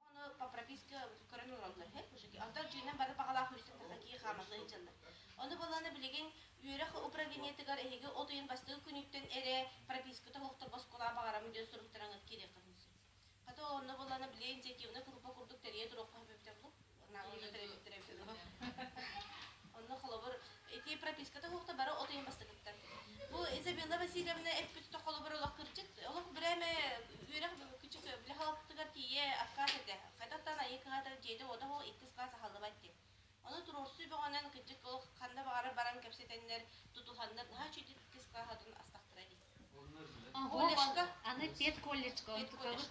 Ону по прописке көрөн ылаллар үһү кушаки. Онтон дьиэнэн бары баҕалаах үстэтэ такие хаамалла илдьэллэр. Ону балааны билигин үөрэх управлениетыгар эһиги от ыйын бастыгы күнүттэн эрэ прописката оһохтор боскула баҕарам диэн суруктаран киириэххин сөп. Хата онно балааны билиэн диэки курупа курдук тэрийэ туруохха сөптөөх Наруто төрөппүттэрэ дьоно. Онно холобур, ити прописка тоһуохта бары от ыйын бастакыттан. Бу Изабелла Васильевна эппитте холобур олох кырдьык, олох брэме үөрэх күчүк бile халаттыгар тиийэ аккаас этэ. Хайтаттан айыы кыһата дьиэде ода хол иккис каас аһаллыбат ти. Ону туруорсу бөҕөнөн кырдьык олох ханна баҕара баран кэпсэтэннэр, тутуһаннар наһаа чүйдүт иккис кааһатын астахтыра ди. колледжка аны педколледжка онтукабыт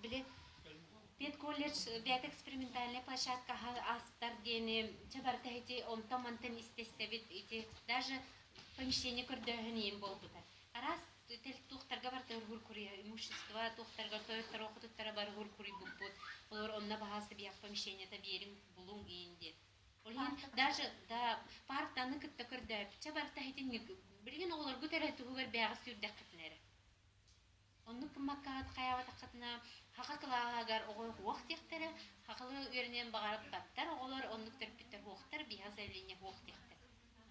били педколледж бэйэтэ экспериментальнай площадкаһа аастар диэни дьэ барыта ити онтон мантан истэстэбит ити даже помещение көрдөөһүн ийин буолбута араас тел туохтарга барыта ыргуур куруйа имущество туохтарга тойоттор охотуттара бар ыргуур куруйбуппут олор онно баһааса биһэх помещениета биэрим булуҥ иин диэт Ойуун даже да партаны кытта көрдөөбүччэ барыта итинник билигин оҕолоргут эрэ туһугар бэйэҕит сүүрдэххитинэ эрэ оннук гыммаккаҕыт хайаабатаххытына саха кылааһыгар оҕо уох диэхтэрэ сахалыы үөрэниэн баҕарбаттар оҕолор оннук төрпүттэр уохтар биһиэхэ заявление уох диэхтэр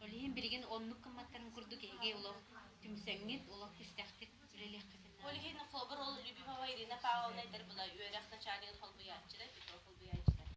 ол иһин билигин оннук гымматтарын курдук эһиги олох түмсэҥҥит олох түстэхтик үлэлиэххитинэ ол иһин холобур ол любимова ирина павловна эдэр була үөрэх начальнигын холбуйааччыта петров холбуйааччыта